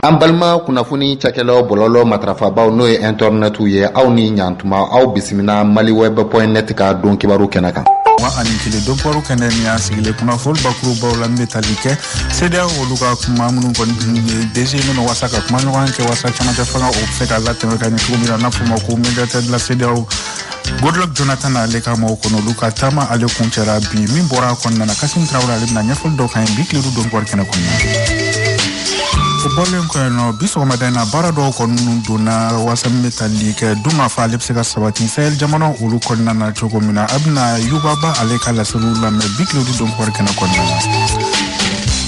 an balima kunnafoni cakɛlaw bɔlɔlɔ matarafabaaw n'o ye intɛrɛnɛtiw ye aw ni ɲantuma aw bisimila maliweb point net ka don kibaru kɛnɛ kan wa ani tile don kibaru kɛnɛ ni y'a sigilen kunnafoni bakurubaw la min bɛ tali kɛ CEDEAO olu ka kuma minnu kɔni ye dese minnu wasa ka kuma ɲɔgɔn kɛ wasa camancɛ fanga o bɛ se ka latɛmɛ ka ɲɛ cogo min na n'a fɔ ma ko médiateur de la CEDEAO goodluck jonathan ale ka maaw kɔni olu ka taama ale kuncɛra bi min bɔra a kɔnɔna na kasim tarawele ale bɛna ɲɛfɔli dɔ k'an ye bi tile don kibaru kɛnɛ kɔnɔna o bɔlen kɔ yen nɔ bi sɔgɔmada in na baara dɔw kɔni minnu donna wasa min bɛ tali kɛ dunkafa ale bɛ se ka sabati sahel jamana olu kɔnɔna na cogo min na an bɛna yuba ba ale ka laseliw lamɛn bi tile don kibaru kɛnɛ kɔnɔna na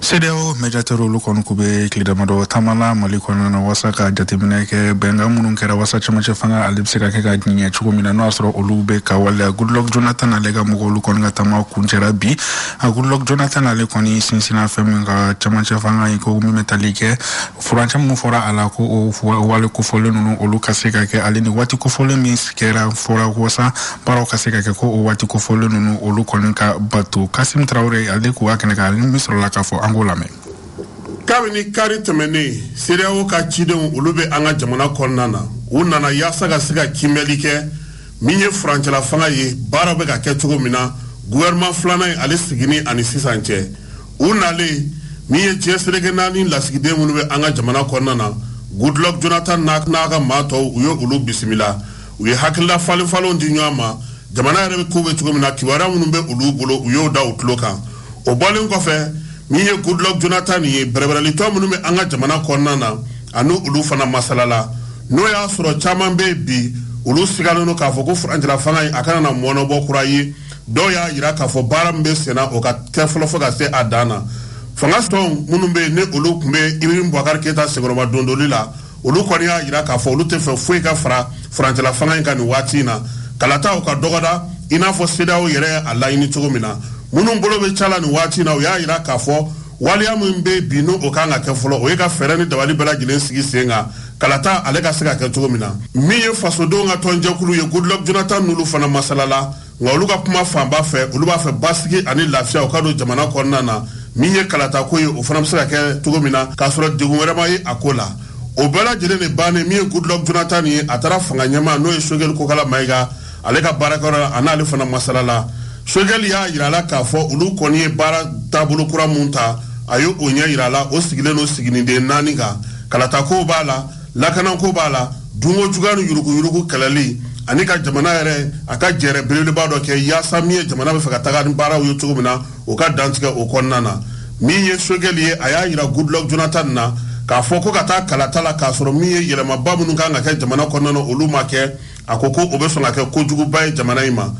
CEDEAO médiateur olu kɔni k'u bɛ tile damadɔ taama la mali kɔnɔna na wasa ka jateminɛ kɛ bɛnkan minnu kɛra wasa camancɛ fanga ale bɛ se ka kɛ ka ɲɛ cogo min na n'o y'a sɔrɔ olu bɛ ka waleya goodluck jonathan ale ka mɔgɔ olu kɔni ka taama kuncɛra bi a goodluck jonathan ale kɔni sinsinna fɛn min kan camancɛ fanga ye ko min bɛ tali kɛ furancɛ minnu fɔra a la ko o wale kofɔlen ninnu olu ka se ka kɛ ale ni waati kofɔlen min kɛra fɔra wasa baaraw ka se ka kɛ ko o waati kofɔlen ninnu olu kɔni ka bato kasim tarawele ale k'u ka kɛnɛ kan ale min sɔrɔla k'a fɔ an k'o lamɛn kabini kari tɛmɛnen CEDEAO ka cidenw olu bɛ an ka jamana kɔnɔna na u nana yaasa ka se ka kiimɛli kɛ min ye furancɛla fanga ye baara bɛ ka kɛ cogo min na gouvernement filanan in ale sigini ani sisan cɛ u nalen min ye diɲɛ seleke naani lasigiden minnu bɛ an ka jamana kɔnɔna na goodluck jonathan n'a ka maa tɔw u ye olu bisimila u ye hakilila falen falenw di ɲɔgɔn ma jamana yɛrɛ bɛ kow bɛ cogo min na kibaruya minnu bɛ olu bolo u y'o da u tulo kan o bɔlen kɔfɛ min ye goodluck jonathan ye bɛrɛbɛrɛlitɔn minnu bɛ an ka jamana kɔnɔna na ani olu fana masalala n'o y'a sɔrɔ caman bɛ yen bi olu sigalen don k'a fɔ ko furancɛlafanga in a kana na mɔɔnɔbɔ kura ye dɔw y'a jira k'a fɔ baara min bɛ senna o ka kɛ fɔlɔ fo ka se a dan na fanga tɔn minnu bɛ yen ni olu tun bɛ ibrahim bubakari keyita senkɔrɔmadondoli la olu kɔni y'a jira k'a fɔ olu t'a fɛ foyi ka fara furancɛla fanga in kan nin waati in na kalata o ka dɔgɔda i n'a fɔ CEDEAO yɛrɛ y'a laɲini cogo min na minnu bolo bɛ ca la nin waati in na u y'a jira k'a fɔ waleya min bɛ bi n'o kan ka kɛ fɔlɔ o ye ka fɛɛrɛ ni dabali bɛɛ lajɛlen sigi sen kan kalata ale ka se ka kɛ cogo min na min ye fasodenw ka tɔnjɛkulu ye goodluck jonathan n'olu fana masalala nka olu ka kuma fanba fɛ olu b'a fɛ basigi ani lafiya o ka don jamana kɔnɔna na min ye kalatako ye o fana bɛ se ka kɛ cogo min na k'a sɔrɔ degun wɛrɛ ma ye a ko la o bɛɛ lajɛlen de bannen min ye goodluck jonathan ye a taara fanga ɲɛmaa n'o ye sogɛli kokala mayiga ale ka baarakɛyɔrɔ la a n'ale fana masalala sogɛli y'a yira a la k'a fɔ olu kɔni ye baara taabolo kura min ta a ye o ɲɛ yira a la o sigilen don sigininden naani kan kalatakow b'a la lakananko b'a la Dunko juguya ni yuruguyurugu kɛlɛli ani ka jamana yɛrɛ a ka jɛrɛ belebeleba dɔ kɛ yaasa min ye jamana bɛ fɛ ka taga ni baaraw ye cogo min na o ka dantigɛ o kɔnɔna na min ye choguel ye a y'a jira goodluck jonathan na k'a fɔ ko ka taa kalata la k'a sɔrɔ min ye yɛlɛmaba minnu kan ka kɛ jamana kɔnɔna na olu ma kɛ a ko ko o bɛ sɔn ka kɛ kojuguba ye jamana in ma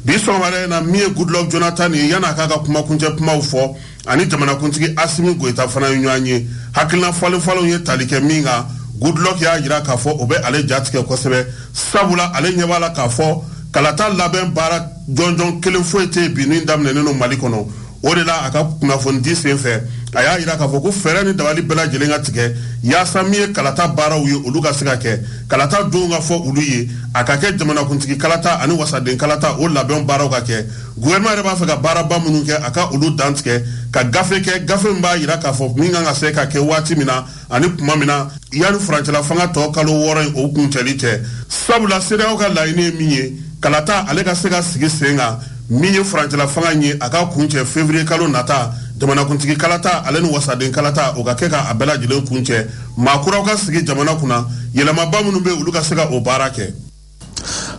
bi sɔgɔmada in na min ye goodluck jonathan ye yan'a k'a ka kumakuncɛ kumaw fɔ ani jamanakuntigi asimi goyita fana ye ɲɔgɔn ye hakilina falenfalenw ye tali kɛ min kan goodluck y'a jira k'a fɔ o bɛ ale jatigɛ kosɛbɛ sabula ale ɲɛ b'a la k'a fɔ kalata labɛn baara jɔnjɔn kelen foyi tɛ bi min daminɛnen don mali kɔnɔ o de la a ka kunnafonidi sen fɛ a y'a jira k'a fɔ ko fɛɛrɛ ni dabali bɛɛ lajɛlen ka tigɛ yaasa min ye kalata baaraw ye olu ka se ka kɛ kalata donw ka fɔ olu ye a ka kɛ jamanakuntigi kalata ani wasaden kalata o labɛn baaraw ka kɛ Gouvernement yɛrɛ b'a fɛ ka baaraba minnu kɛ a ka olu dantigɛ ka gafe kɛ gafe min b'a jira k'a fɔ min kan ka se ka kɛ waati min na ani tuma min na yanni furancɛla fanga tɔ kalo wɔɔrɔ in o kuncɛli cɛ sabula CEDEAO ka laɲini ye min ye kalata ale ka se ka sigi sen kan min ye furancɛla fanga in ye a ka kuncɛ février kalo nata jamanakuntigi kalata ale ni wasaden kalata o ka kɛ ka a bɛɛ lajɛlen kuncɛ maa kuraw ka sigi jamana kunna yɛlɛmaba minnu bɛ olu ka se ka o baara kɛ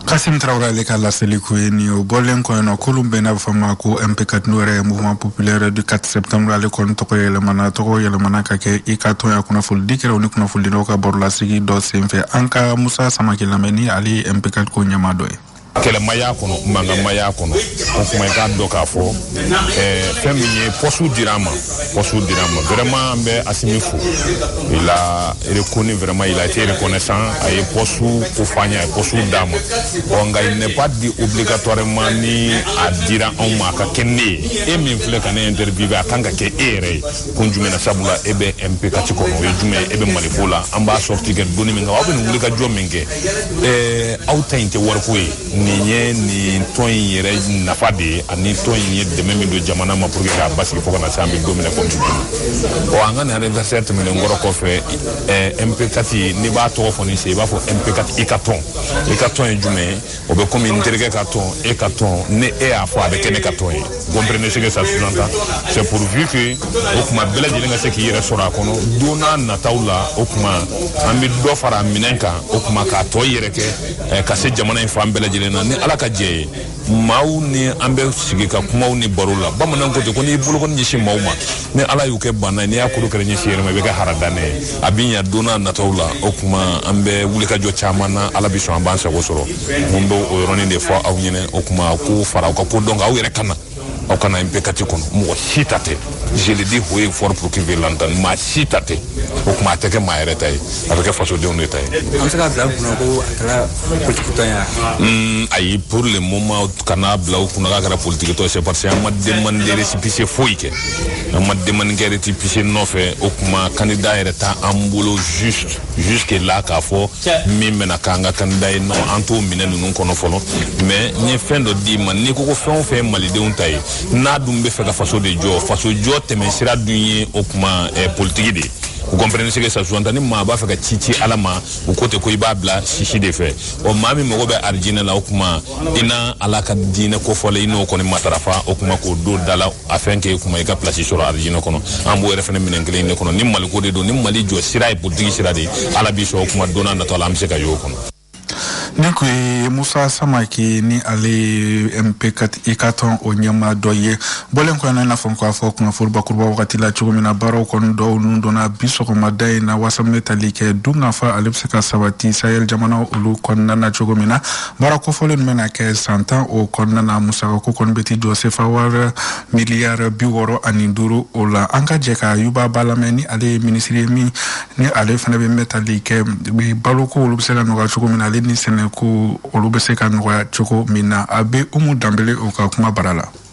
kasim tarawele ale ka laseli kun ye nin ye o bɔlen kɔ yen nɔ kulu bɛ yen n'a bɛ fɔ a ma ko mp4 n'o yɛrɛ ye mouvement populaire du 4 septembre ale kɔni tɔgɔ yɛlɛmana tɔgɔ yɛlɛmana ka kɛ i ka tɔn ye a kunnafoli di kɛra u ni kunnafolidilaw ka barolasigi dɔ senfɛ an ka musa samake lamɛn ni ale ye mp4 ko ɲɛmaa dɔ ye kɛlɛmaya kɔnɔ mankanmaya kɔnɔ o kuma i k'a dɔn k'a fɔ fɛn min ye pɔsiw dira an ma pɔsu dira an ma vraiment an bɛ asimi fo il a reconnu vraiment il a été reconnaissant a ye pɔsu ko fɔ an ye a ye pɔsu d'an ma ɔ nka il n'est pas dit obligatoirement ni a dira anw ma a ka kɛ ne ye e min filɛ ka ne interviewe a kan ka kɛ e yɛrɛ ye kun jumɛn na sabula e bɛ mp4 kɔnɔ o ye jumɛn ye e bɛ maliko la an b'a sorti kɛ doni min kan aw bɛ nin wulikajɔ min kɛ ɛɛ aw ta in tɛ wariko ye nin ye nin tɔn in yɛrɛ nafa de ye ani tɔn in ye dɛmɛ min don jamana ma pour que k'a basigi fo ka na se an bɛ don min na komi bi ɔ an ka nin anniversaire tɛmɛnen kɔrɔ kɔfɛ ɛɛ mp4 n'i b'a tɔgɔ fɔ ni se i b'a fɔ mp4 i ka tɔn i ka tɔn ye jumɛn ye o bɛ komi n terikɛ ka tɔn e ka tɔn ni e y'a fɔ a bɛ kɛ ne ka tɔn ye comprenez ce que ça sous-entend c'est pourvu que o tuma bɛɛ lajɛlen ka se k'i yɛrɛ sɔrɔ a kɔnɔ don n'a nataw la o tuma an bɛ dɔ fara minɛn kan o tuma ka tɔn yɛrɛ kɛ eh, ka se jamana in fan bɛɛ lajɛlen na ni ala ka jɛ ye maaw ni an bɛ sigi ka kumaw ni baro la bamanan ko ten ko n'i bolokɔni ɲɛsin maaw ma ni ala y'u kɛ banna ye n'i y'a kuru k'a ɲɛsin i yɛrɛ ma i bɛ kɛ haradanɛ ye a bɛ ɲa don n'a nataw la o kuma an bɛ wulikajɔ caman na ala bɛ sɔn an b'an sago sɔrɔ n tun bɛ o yɔrɔnin de fɔ aw ɲɛna o kuma k'o fara aw ka kodɔn kan aw yɛrɛ ka na aw kana MP quatre kɔnɔ mɔgɔ si ta tɛ je le dis haut et fort pour qui veut l'entendre maa si ta tɛ o kuma a tɛ kɛ maa yɛrɛ ta ye a bɛ kɛ fasodenw de ta ye an bɛ se k'a bila kunna ko a kɛra politikitɔn ye hmm, ayi pour le moment kan'a bila aw kunna k'a kɛra politikitɔn c'est parce que an ma demande de récépissé foyi kɛ an ma demande kɛ récépissé nɔfɛ o kuma candidat yɛrɛ t'an bolo juste jusque là k'a fɔ min bɛna k'an ka kandida ye non an t'o minɛn ninnu kɔnɔ fɔlɔ mais n ye fɛn dɔ d'i ma n'i ko ko fɛn o fɛn ye malidenw ta ye n'a dun bɛ fɛ ka faso de jɔ faso jɔ tɛmɛ sira dun ye o kuma eh, politiki de ye vous comprenez ce que ça sous-entend ni maa b'a fɛ ka ci ci ala ma u ko ten ko i b'a bila sisi de fɛ ɔ maa min mago bɛ arijinɛ la o kuma i na ala ka diinɛ kofɔlen i n'o kɔni matarafa o kuma k'o don da la afin que o kuma i ka plasi sɔrɔ arijinɛ kɔnɔ an b'o yɛrɛ fana minɛn kelen de kɔnɔ ni maliko de don ni mali jɔ sira ye politiki sira de ye ala bi sɔn o kuma don natɔ la an bɛ se ka y'o kɔnɔ nin kun ye musa samake ni ale ye MP quatre ka tɔn o ɲɛmaa dɔ ye bɔlen kɔ o la i n'a fɔ k'a fɔ kunnafoni bakuruba wagati la cogo min na baaraw kɔni dɔw ninnu donna bi sɔgɔmada in na wasa min bɛ tali kɛ dun ka fa ale bɛ se ka sabati sahel jamana olu kɔnɔna na cogo min na baara kofɔlen min bɛna kɛ san tan o kɔnɔna na musakako kɔni bɛ t'i jɔ sefa wari miliyari bi wɔɔrɔ ani duuru o la an ka jɛ ka yuba ba lamɛn ni ale ye minisiri ye min ni ale fana bɛ min bɛ tali kɛ bi baloko olu bɛ se ka nɔgɔya cogo min na ale ni sɛnɛko olu bɛ se ka nɔgɔya cogo min na a bɛ umu danbele o ka kuma bara la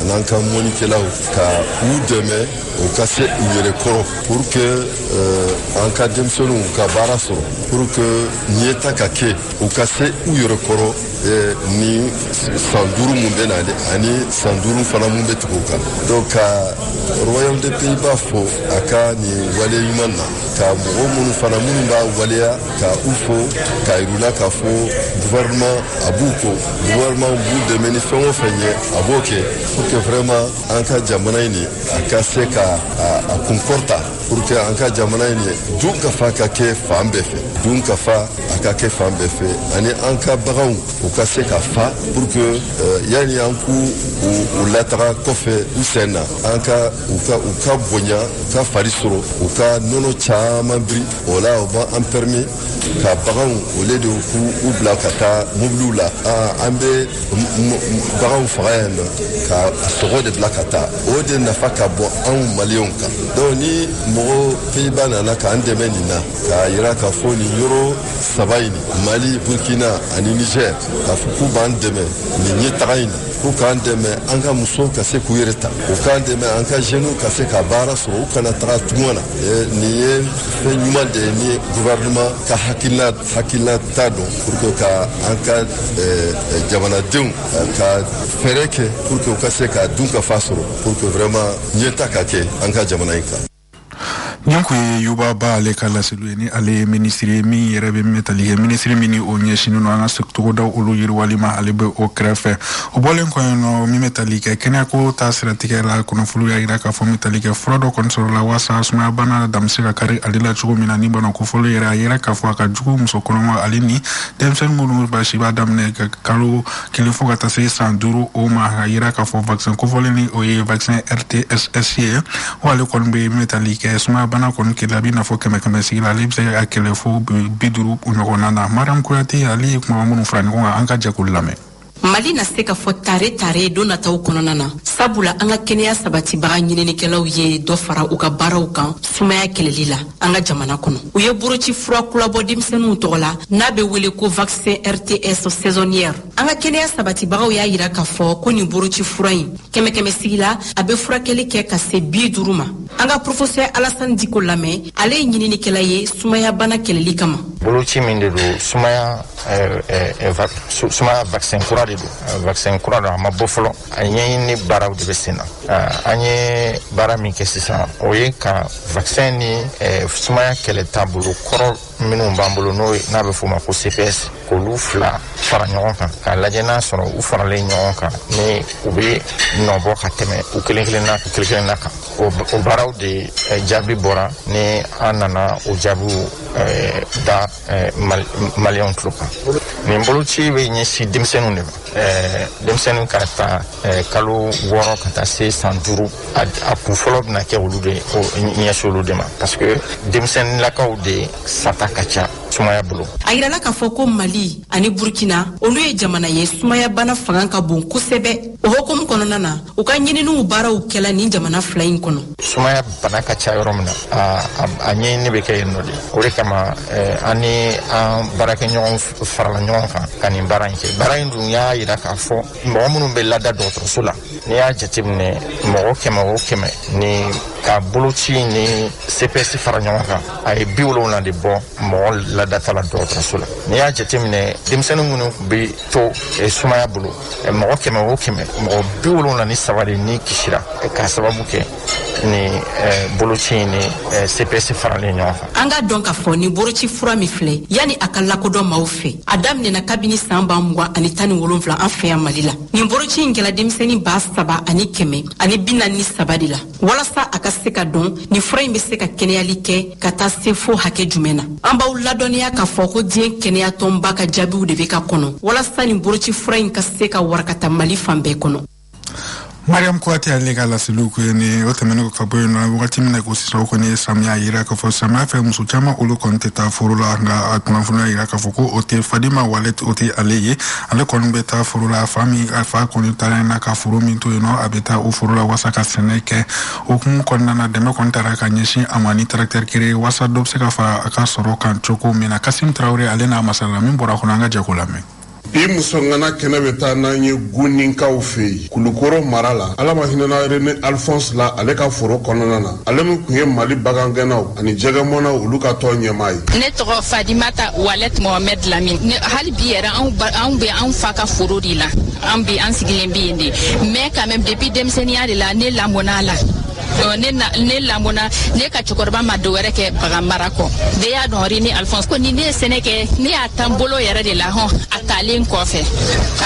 an'an ka mɔnikɛlaw ka u dɛmɛ u ka se u yɛrɛ kɔrɔ pour que euh, an ka denmisɛnninw ka baara sɔrɔ pour que ɲɛta ka kɛ u ka se u yɛrɛ kɔrɔ euh, ni san duuru mun bɛ na de ani san duuru fana mun bɛ tugu o kan donc ka royaume des Pays-Bas fo a ka nin wale ɲuman na ka mɔgɔ minnu fana minnu b'a waleya ka u fo k'a yira u la k'a fɔ gouvernement a b'u ko gouvernement b'u dɛmɛ ni fɛn o fɛn ye a b'o kɛ pour que vraiment an ka jamana in ni a ka se ka a kun kɔrɔta pour que an ka jamana in ni dun ka fa ka kɛ fan bɛɛ fɛ dun ka fa a ka kɛ fan bɛɛ fɛ ani an ka baganw u ka se ka fa pour que yani an k'u u lataga kɔfɛ u sen na an ka u ka u ka bonya u ka fari sɔrɔ u ka nɔnɔ caman biri o la o b'an an permis ka baganw au lieu de k'u u bila ka taa mobiliw la an bɛ baganw faga yan nɔ ka a sogo de bila ka taa o de nafa ka bon anw maliyɛnw kan donc ni mɔgɔ Pays-Bas nana k'an dɛmɛ nin na k'a yira k'a fɔ nin yɔrɔ saba in mali burkina ani niger k'a fɔ k'u b'an dɛmɛ nin ɲɛtaga in na k'u k'an dɛmɛ an ka musow ka se k'u yɛrɛ ta u k'an dɛmɛ an ka jeunes ka se ka baara sɔrɔ u kana taga tunga na nin ye fɛn ɲuman de ye ni gouvernement ka hakilina ta don pour que ka an ka jamanadenw ka fɛɛrɛ kɛ pour que u ka se ka dunkafa sɔrɔ pour que vraiment ɲɛtaa ka kɛ an ka jamana in kan nin kun ye yuba ba ale ka laseliw ye ni ale ye minisiri ye min yɛrɛ bɛ min bɛ tali kɛ minisiri min ni o ɲɛsinnen don an ka togodaw olu yiriwali ma ale bɛ o kɛrɛfɛ o bɔlen kɔ yen nɔ min bɛ tali kɛ kɛnɛyako ta siratigɛ la kunnafoni y'a jira k'a fɔ bɛ tali kɛ fura dɔ kɔni sɔrɔ la waasa sumayabana dan bɛ se ka kari ale la cogo min na ni bana kofɔlen yɛrɛ a yira k'a fɔ a ka jugu muso kɔnɔma ale ni denmisɛnnin minnu b'a si b'a daminɛ ka kalo kelen fo ka taa se san duuru o ma a yira k'a fɔ vaccin kofɔlen ni o ye vaccin rtss ye wa ale kɔni bɛ min bɛ tali kɛ sumayabana kɔni kɛlɛ a bɛ i n'a fɔ kɛmɛ kɛmɛ sigi la ale bɛ se ka kɛlɛ fo bi duuru ɲɔgɔnna na mariam kuyate ale ye kumaba minnu fara ɲɔgɔn kan an ka jɛ k'olu lamɛn mali na se k'a fɔ tare tare don nataw kɔnɔna na sabula an ka kɛnɛya sabatibaga ɲininikɛlaw ye dɔ fara u ka baaraw kan sumaya kɛlɛli la an ka jamana kɔnɔ u ye boroci fura kura bɔ denmisɛnninw tɔgɔ la n'a bɛ wele ko vaccin rts saisonnière an ka kɛnɛya sabatibagaw y'a yira k'a fɔ ko nin boroci fura in kɛmɛkɛmɛ sigi la a bɛ furakɛli kɛ ka se bi duuru ma an ka professeur alasani diko lamɛn ale ye ɲininikɛla ye sumayabana kɛlɛli kama boloci min de don sumaya sumaya vaccin kura de don vaccin kura don a ma bɔ fɔlɔ a ɲɛɲini baaraw de bɛ sen na an ye baara min kɛ sisan o ye ka vaccin ni sumaya kɛlɛ taabolo kɔrɔ minnu b'an bolo n'o n'a bɛ f'o ma ko cps k'olu fila fara ɲɔgɔn kan k'a lajɛ n'a sɔrɔ u faralen ɲɔgɔn kan ni u bɛ nɔbɔ ka tɛmɛ u kelen kelenna kan o baaraw de jaabi bɔra ni an nana o jaabiw da eh, Mal maliyɛnw tulo kan nin boloci bɛ ɲɛsin denmisɛnninw de ma eh, denmisɛnnin ka ta eh, kalo wɔɔrɔ ka taa se san duuru a, a kun fɔlɔ bɛna kɛ olu de o ɲɛsin olu de ma parce que denmisɛnninlakaw de sata ka ca sumaya bolo a yirala k'a fɔ ko mali ani burkina olu ye jamana ye sumaya bana fanga ka bon kosɛbɛ o hukumu kɔnɔna na u ka ɲininiw baaraw kɛla nin jamana fila in kɔnɔ sumaya bana ka ca yɔrɔ min na a ɲɛɲini bɛ kɛ yen nɔ de o de kama an ni an baarakɛɲɔgɔn farala ɲɔgɔn kan ka nin baara in kɛ baara in dun y'a yira k'a fɔ mɔgɔ minnu bɛ lada dɔgɔtɔrɔso la n'i y'a jateminɛ mɔgɔ kɛmɛ o kɛmɛ n'i ka boloci ni cps fara ɲɔgɔn kan a ye bi wolonwula de bɔ mɔgɔ ladata la dɔgɔtɔrɔso la n'i y'a jateminɛ denmisɛnnin minnu tun bɛ to sumaya bolo mɔgɔ kɛmɛ o kɛmɛ mɔgɔ bi wolonwula ni saba de ni kisira k'a sababu kɛ nin boloci in ni cps faralen ɲɔgɔn kan an k'a dɔn k'a fɔ nin boloci fura min filɛ yani a ka lakodɔn maaw fɛ a daminɛna kabini san ba mugan ani tan ni wolonwula an fɛ yan mali la nin boloci in kɛla denmisɛni ba saba ani kɛmɛ ani bi naani ni saba de la walasa a ka se ka dɔn ni fura in bɛ se ka kɛnɛyali kɛ ka taa se fo hakɛ jumɛn na an b'aw ladɔnniya k'a fɔ ko diɲɛ kɛnɛyatɔnba ka jaabiw de bɛ ka kɔnɔ walasa nin boloci fura in ka se ka warakata mali fan bɛɛ kɔnɔ mariam kuyate ale ka laseliw ko ye ni o tɛmɛnen ka bɔ yen nɔ wagati min na ko sisan o kɔni ye samiya yira k'a fɔ samiya fɛ muso caman olu kɔni tɛ taa foro la nka a kunnafoni y'a yira k'a fɔ ko o tɛ fadima walet o tɛ ale ye ale kɔni bɛ taa foro la fa min a fa kɔni taara yen na ka foro min to yen nɔ a bɛ taa o foro la walasa ka sɛnɛ kɛ o hukumu kɔnɔna na dɛmɛ kɔni taara ka ɲɛsin a ma ni tarakitɛri kere walasa dɔ bɛ se ka fara a ka sɔrɔ kan cogo min na kasim tarawele ale n'a masalala min bɔra a kɔnɔ an ka jɛ k'o lamɛn bi muso ŋana kɛnɛ bɛ taa n'an ye guninkaw fɛ yen Kulukɔrɔ mara la ala ma hinɛna Rene Alphonse la ale ka foro kɔnɔna na ale min kun ye Mali bagangɛnnaw ani jɛgɛmɔnnaw olu ka tɔn ɲɛmaa ye. Ne tɔgɔ Fadimata Walɛt Mohamɛd Lamin ne hali bi yɛrɛ anw bɛ anw fa ka foro de la an bi an sigilen bɛ yen de mais quand même depuis denmisɛnninya de la ne lamɔna a la. ne na ne lamɔna ne ka cɛkɔrɔba ma dɔ wɛrɛ kɛ bagan mara kɔ bɛɛ y'a dɔn rene alphonse kɔni ne ye sɛnɛ kɛ ne y'a ta n bolo yɛrɛ de la hɔn a taalen kɔfɛ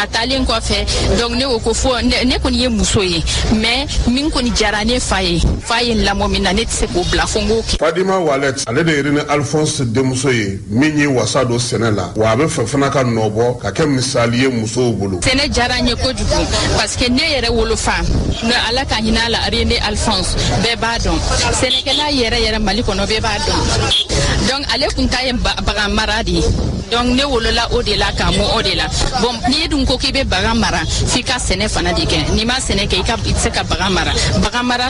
a taalen kɔfɛ donc ne ko ko fo ne kɔni ye muso ye mais min kɔni diyara ne fa ye fa ye n lamɔ min na ne tɛ se k'o bila fo n k'o kɛ fadima walet ale de ye rene alphonse denmuso ye min ye wasa don sɛnɛ la wa a b'a fɛ fana ka nɔbɔ ka kɛ misali ye musow bolo sɛnɛ diyara n ye kojugu parce que ne yɛrɛ wolofa ne ala ka hinɛ a la rene alphonse bɛɛ b'a dɔn sɛnɛkɛla yɛrɛ yɛrɛ mali kɔnɔ bɛɛ b'a dɔn donc ale kun ta ye bagan mara de ye donc ne wolola o de la ka mɔ o de la bon n'i dun ko k'i bɛ bagan mara f'i ka sɛnɛ fana de kɛ n'i ma sɛnɛ kɛ i ka i tɛ se ka bagan mara bagan mara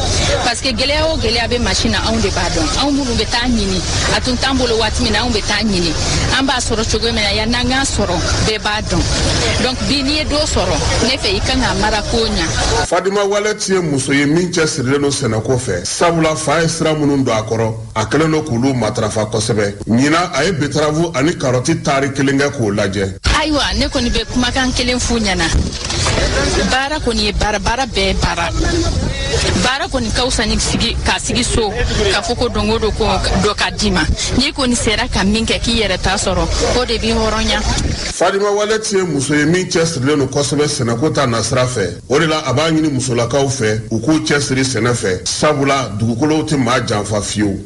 parce que gɛlɛya o gɛlɛya bɛ masin na anw de b'a dɔn anw minnu bɛ taa a ɲini a tun t'an bolo waati min na anw bɛ taa a ɲini an b'a sɔrɔ cogo min na yann'an k'a sɔrɔ bɛɛ b'a dɔn donc bi n'i ye dɔ sɔrɔ ne fɛ i ka kan k'a mara koɲa fadima walɛti ye muso ye min cɛsirilen don sɛnɛko fɛ sabula a fa ye sira minnu don a kɔrɔ a kɛlen don k'olu matarafa kosɛbɛ ɲina a ye betarabu ani karɔti taari kelen kɛ k'o lajɛ ayiwa ne kɔni bɛ kumakan kelen f'u ɲɛna baara kɔni ye baara baara bɛɛ baara baara kɔni ka fisa ni sigi ka sigi so k'a fɔ ko don o don ko dɔ k'a d'i ma n'i kɔni sera ka min kɛ k'i yɛrɛ ta sɔrɔ o de b'i hɔrɔnya fadima walɛti ye muso ye min cɛsirilen don kosɛbɛ sɛnɛko ta nasira fɛ o de la a b'a ɲini musolakaw fɛ u k'u cɛsiri sɛnɛ fɛ sabula dugukolo tɛ maa janfa fiyewu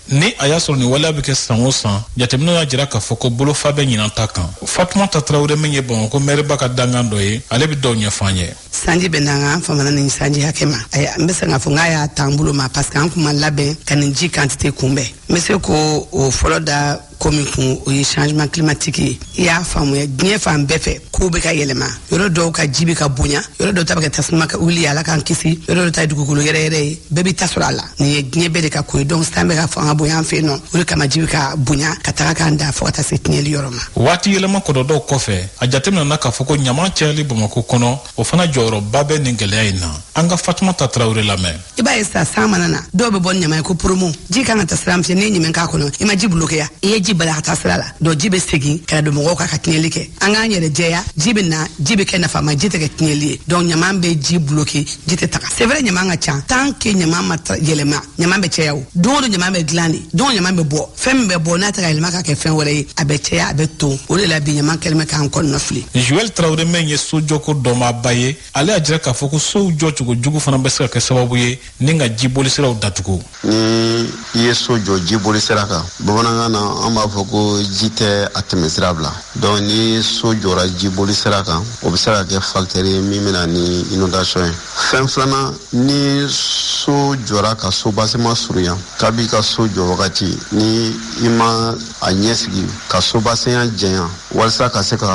ni a y'a sɔrɔ nin waleya bɛ kɛ san o san jateminɛw y'a jira k'a fɔ ko bolofa bɛ ɲinan ta kan fatumata tarawele min ye bamakɔ mɛriba ka dangan dɔ ye ale bɛ dɔw ɲɛf'an ye sanji bɛ na nka an famana nin sanji hakɛ ma n bɛ se k'a fɔ n k'a y'a t'an bolo ma parce que an kun ma labɛn ka nin ji kantite kunbɛn n bɛ se k'o fɔlɔ da komi kun o ye changement climatique ye i y'a faamuya diɲɛ fan bɛɛ fɛ kow bɛ ka yɛlɛma yɔrɔ dɔw ka ji bɛ ka bonya yɔrɔ dɔw ta bɛ ka tasuma ka wuli ala k'an kisi yɔrɔ dɔw ta ye dugukolo yɛrɛyɛrɛ ye bɛɛ b'i ta sɔrɔ a la nin ye diɲɛ bɛɛ de ka ko ye donc san bɛ ka fanga bonya an fɛ yan nɔ o de kama ji bɛ ka bonya ka taga k'an da fo ka taa se tiɲɛli yɔrɔ ma waati yɛlɛma kɔlɔlɔw kɔfɛ a jateminɛna k'a fɔ ko ɲama cayali bamako kɔnɔ o fana jɔyɔrɔba bɛ nin gɛlɛya in na an ka fatumata tarawele lamɛn i b'a ye sa san mana na dɔw bɛ bɔ ni ɲama ye ko poromo ji kan ka taa sira min fɛ n'i ye ɲama k'a kɔnɔ i ma ji bulokeya i ye ji bala ka taa sira la donc ji bɛ segin ka don mɔgɔw kan ka tiɲɛli kɛ an k'an yɛrɛ jɛya ji bɛ na ji bɛ kɛ nafama ji tɛ kɛ tiɲɛli ye donc ɲama bɛ ji buloke ji tɛ taga c'est vrai ɲama ka ca tant que ɲama ma yɛlɛma ɲama bɛ caya o don o don ɲama bɛ dilan de don ɲama bɛ bɔ fɛn min bɛ bɔ n'a tɛ ka yɛlɛma ka kɛ fɛn wɛrɛ ye a bɛ caya a bɛ ton o de la bi ɲama kɛlen bɛ k'an kɔnɔnafili joel tarawele min ye sojɔko dɔnbaaba ye ale y'a jira k'a fɔ ko sow jɔcogo jugu fana bɛ se ka kɛ sababu ye ni ka jibolisiraw datugu ni i ye so jɔ jibolisira kan bamanankan na an b'a fɔ ko ji tɛ a tɛmɛsira bila donc ni so jɔra jibolisira kan o bɛ se ka kɛ fakitɛri ye min bɛna ni inondation ye fɛn filanan ni so jɔra ka soubassement surunya kabi ka so jɔ wagati ni i ma a ɲɛsigi ka soubassement janya walisa ka se ka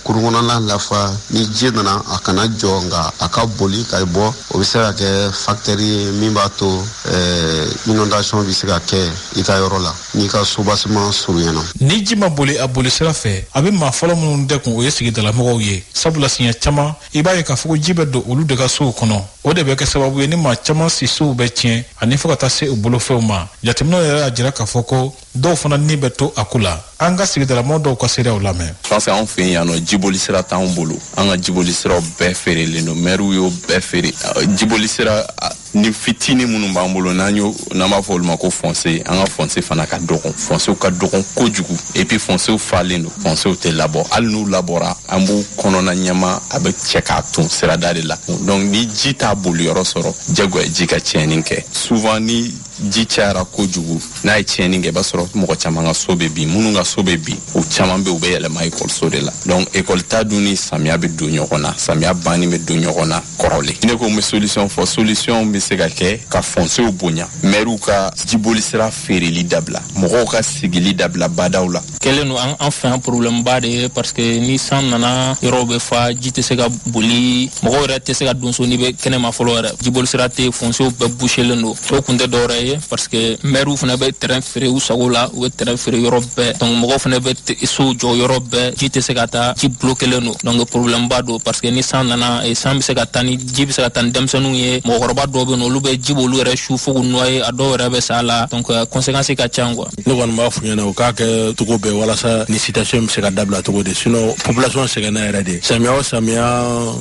cour kɔnɔna lafa ni ji nana a kana jɔ nka a ka boli ka bɔ o bɛ se ka kɛ fakitɛri ye min b'a to eh, inondation bɛ se ka kɛ i ka yɔrɔ la n'i ka soubassement surunyana ni ji ma boli a boli sira fɛ a bɛ maa fɔlɔ minnu dɛgun o ye sigidalamɔgɔw ye sabula siɲɛ caman i b'a ye k'a fɔ ko ji bɛ don olu de ka sow kɔnɔ o de bɛ kɛ sababu ye ni maa caman sisow bɛ tiɲɛ ani fo ka taa se u bolofɛnw ma jateminɛw yɛrɛ y'a jira k'a fɔ ko dɔw fana ni bɛ to a ko la an ka sigidalamɔgɔ dɔw ka seereyaw lamɛn parce que anw fɛ yan nɔ jiboli sira t'anw bolo an ka jiboli siraw bɛɛ feerelen don mɛriw y'o bɛɛ feere jiboli sira ni fitini minnu b'an bolo n'an y'o n'an b'a fɔ olu ma ko fɔnse an ka fɔnse fana ka dɔgɔn fɔnsew ka dɔgɔn kojugu epi fɔnsew falen don fɔnsew tɛ labɔ hali n'u labɔra an b'u kɔnɔna ɲama bɛɛ cɛ k'a ton sirada de la donc ni ji t'a boliyɔrɔ sɔrɔ jagoya ji ka tiɲɛni kɛ souvent ni ji cayara kojugu n'a ye tiɲɛni kɛ i b'a sɔrɔ mɔgɔ caman ka so bɛ bin minnu ka so bɛ bin u caman bɛ u bɛ yɛlɛma ekɔliso de la donc ekɔli ta dun ni samiya bɛ don ɲɔgɔn na samiya banni bɛ don ɲɔgɔn na kɔrɔlen ne ko n bɛ solution fɔ solution bɛ se ka kɛ ka fɔnsew bonya mɛriw ka jiboli sira feereli dabila mɔgɔw ka sigili dabila badaw la kɛlen don an fɛ yan porobilɛmuba de ye parce que ni san nana yɔrɔw bɛ fa ji tɛ se ka boli mɔgɔw yɛrɛ tɛ se ka don so n'i bɛ kɛnɛma fɔlɔ yɛrɛ jiboli sira tɛ fonsew bɛɛ buselen don o kun tɛ dɔwɛrɛ ye parce que mɛriw fana bɛ tɛrɛn feere u sago la u bɛ tɛrɛn feere yɔrɔ bɛɛ donc mɔgɔw fana bɛ sow jɔ yɔrɔ bɛɛ ji tɛ se ka taa ji bulokelen don donc porobilɛmuba don parce que ni san nana eh, san bɛ se ka taa ni ji bɛ se ka taa ni denmisɛnninw ye mɔgɔkɔrɔba dɔw bɛ yen olu bɛ ji b'olu yɛrɛ su fo k'u nɔye a dɔw yɛrɛ bɛ sa la donc conséquence ka ca quoi ne kɔni b'a f'u ɲɛna u k'a kɛ cogo bɛɛ walasa ni situation bɛ se ka dabila cogo di sinon population sɛgɛnna yɛrɛ de samiya o samiya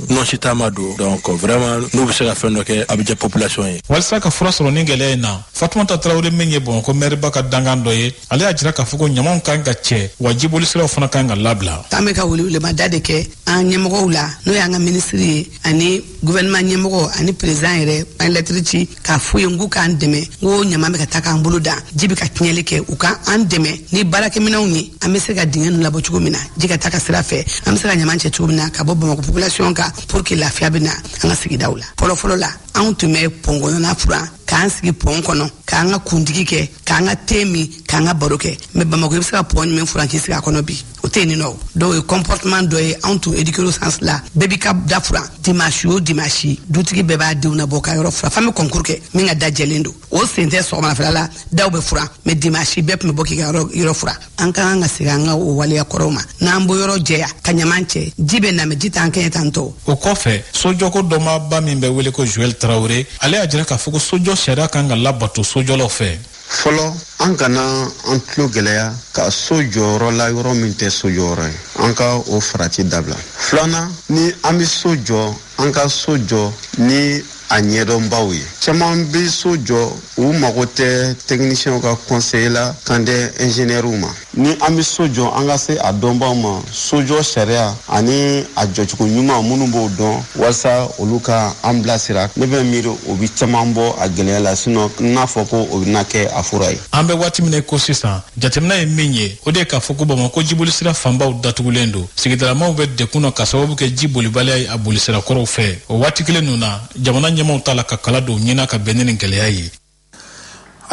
nɔnsi taama don donc vraiment n'u bɛ se ka fɛn dɔ kɛ a bɛ diya population ye walisa ka fura sɔrɔ nin gɛlɛya in na fatumata tarawele min ye bamakɔ mɛriba ka dankan dɔ ye ale y'a jira k'a fɔ ko ɲamanw kan ka cɛ wa jibolisiraw fana kan ka labila an bɛ ka welewelemada de kɛ an ɲɛmɔgɔw la n'o y'an ka minisiri ye ani gouvernement ɲɛmɔgɔ ani président yɛrɛ an lɛtiri ci k'a f'u ye n k'u k'an dɛmɛ n ko ɲaman bɛ ka taa k'an bolo dan ji bɛ ka tiɲɛli kɛ u ka an dɛmɛ ni baarakɛminɛnw ye an bɛ se ka dingɛ ninnu labɔ cogo min na ji ka taa ka sira fɛ an bɛ se ka ɲaman cɛ cogo min na ka bɔ bamakɔ population kan pour que lafiya bɛ na an ka sigidaw la fɔlɔfɔlɔ la anw tun bɛ pɔnkɔnɔna furan k'an sigi pɔn kɔnɔ k'an ka kundigi kɛ k'an ka te min k'an ka baro kɛ mɛ bamakɔ i bɛ se ka pɔn jumɛn furan k'i sigi a kɔnɔ bi o tɛ yen nin nɔ dɔw ye comportement dɔ ye anw tun éduquera o sens la bɛɛ b'i ka da furan dimanche o dimanche dutigi bɛɛ b'a denw nabɔ ka yɔrɔ furan f'an bɛ concours kɛ min ka da jɛlen don o sen tɛ sɔgɔmadafɛla la daw bɛ furan mais dimanche bɛɛ tun bɛ bɔ k'i ka yɔrɔ furan an ka kan ka segin an ka o waleya kɔrɔw ma n'an b'o yɔrɔ jɛya ka ɲaman cɛ ji bɛ na mɛ ji t'an kɛɲɛ t'an tɔɔrɔ o kɔfɛ sojɔko dɔnbaaba min bɛ wele ko joel tarawele ale y'a jira k'a fɔ ko sojɔ sariya kan ka labato sojɔlaw fɛ fɔlɔ an kana an tulo gɛlɛya ka so jɔ yɔrɔ la yɔrɔ min tɛ sojɔyɔrɔ ye an ka o farati dabila filanan ni an bɛ so jɔ an ka so jɔ ni a ɲɛdɔnbaw ye caman bɛ so jɔ u mago tɛ tɛkinisiyɛnw ka kɔnseye la kan tɛ ɛnziniyɛriw ma ni an bɛ so jɔ an ka se a dɔnbaaw ma sojɔ sariya ani a jɔcogo ɲuman minnu b'o dɔn walasa olu ka an bilasira ne bɛ miiri o bɛ caman bɔ a gɛlɛya la sinɔ n'a fɔ ko o bɛna kɛ a fura ye an bɛ waati min na ko sisan jateminɛ ye min ye o de ye k'a fɔ ko bamako jibolisira fanbaw datugulen don sigidalamaw bɛ dɛgun na ka sababu kɛ ji bolibaliya ye a bolisira kɔrɔw fɛ o waati kelen ninnu na jamana ɲɛmaaw t'a la ka kala don ɲɛna ka bɛn ni nin gɛlɛya ye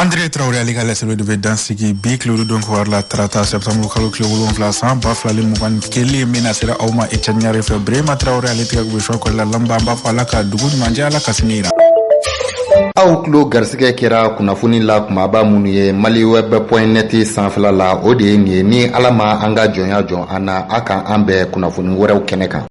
Andire tarawele ale ka laseliw de bɛ dan sigi bi tile don kibaru la tarata sɛtanburukalo tile wolonwula san ba fila ni mugan ni kelen min lasera aw ma ecɛni ɲare fɛ burema tarawele ale tigɛ gosisɔn kɔnɔ la laban an b'a fɔ ala ka dugu ɲuman jɛ ala ka sini jira aw tulo garisɛgɛ kɛra kunnafoni la kunbaba minnu ye maliweb point net sanfɛla la o de ye nin ye ni ala ma an ka jɔnya jɔ an na a ka an bɛn kunnafoni wɛrɛw kɛnɛ kan